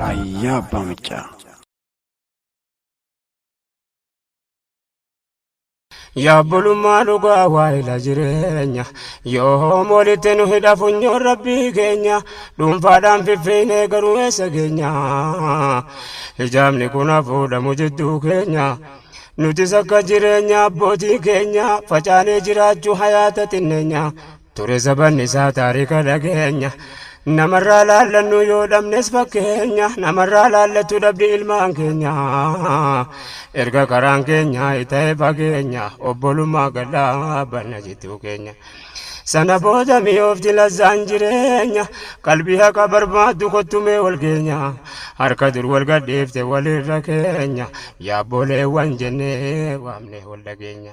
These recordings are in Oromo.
Raayyaa Abbaa Miccaa. Yaabbolummaa dhugaa waa'ila jireenya yoom walitti nu hidha funyoon rabbii keenya dhuunfaadhaan fiffiinee garuu eessa keenya hijaabni kun hafuudhamu jidduu keenya nutis akka jireenya abbootii keenya facaanee jiraachuu hayaata xinneenya Ture zabanni isaa taarika dhageenya Namarraa laallannu yoo dhabnes fakkeenya Namarraa laallattu dhabdi ilmaan keenya Erga karaan keenya ta'e fageenya Obbolummaa gad dhaabbanna jittuu keenya Sana booda mi'oofti lazzaan jireenya Qalbii haqa barbaaddu kottu mee wal geenya Harka dur wal gadhiifte walirra keenya Yaabbooleewwan jennee waamnee wal dhageenya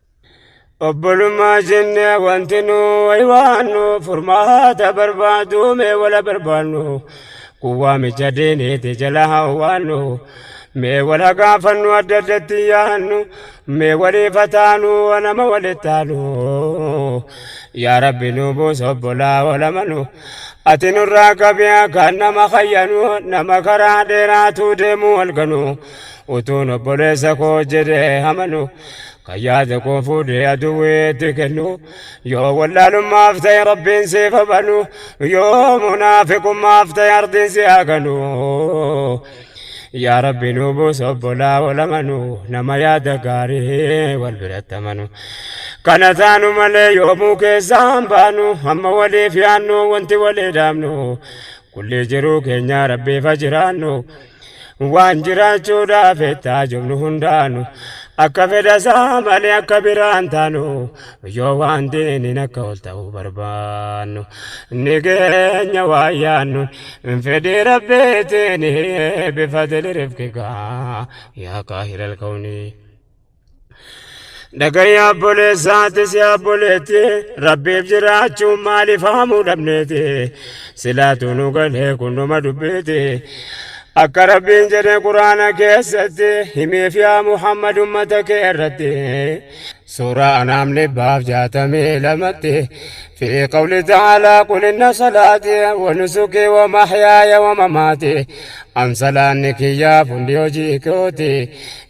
obbolummaa jenne wanti nu waywaannu furmaata barbaadu mee wala barbaannu kuwwaa micha diiniiti jala hawwaannu mee wala gaafannu adda addatti yaannu mee walii fataanu nama walittaanu yaa rabbi nu buus obbolaa olamanu ati nurraa qabiyaa kan nama kayyanu nama karaa dheeraatuu deemuu walganu utuun obboleessa koo jedhee amanu kan yaada koo fuudhee aduwweetti kennu yoo wallaalummaaf ta'e rabbiin siif habanu yoo munaafiqummaaf ta'e ardiin si haganu yaa rabbi nu buus obbolaa wal amanu nama yaada gaarii wal biratti amanu kana taanu malee yoomuu keessaan baanu amma waliif yaannu wanti walii dhaabnu kulli jiruu keenya rabbiif ha jiraannu Waan jiraachuudhaaf ettaa jubnu hundaanu akka fedha isaa malee akka biraan taanu yoo waan diiniin akka ol ta'uu barbaannu ni keenya waan yaannuun hin fedhii rabbiitiin bifadili rifqikaa yaa kaahilal kawnii. Dhagayya obboleessaatis yaa obboleetti rabbiif jiraachuun maaliif haamuu dhabneeti silaatu nu galee kunduma dubbiiti akka rabbiin jedhe quraana keessatti himiif yaa muhammad ummata kee irratti suuraa anaam dhibbaaf jaatamii lamatti fi qawli ta'aalaa qul inna salaati wa nusuki wa mahyaaya wa mamaati an salaanni kiyyaaf hundi hojii kooti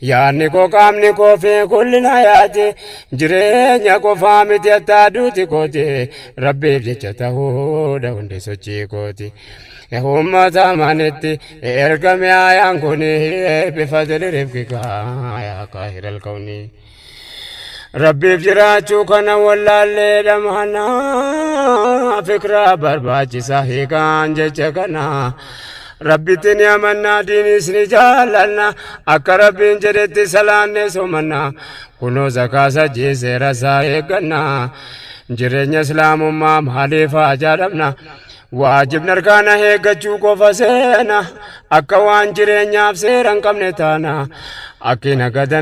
Yaadni koo qaamni koo fi gullina yaati jireenya qofaa miti attaa duuti kooti rabbiif jecha ta'uudha hundi sochii kooti. Uummata amanitti ergame ayaan kuni bifadili rifqika yaa kaahira alkawnii. Rabbiif jiraachuu kana wallaallee dhamana fikraa barbaachisa hiikaan jecha kana. Rabbitti ni amannaa diinis ni jaallanna akka rabbiin jedhetti salaanne somanna kunoo zakaasa jiisee rasaa eegganna jireenya islaamummaa maaliif haa jaalamna waajibni arkaana eeggachuu qofa seena akka waan jireenyaaf seera hin qabne taana akki nagadan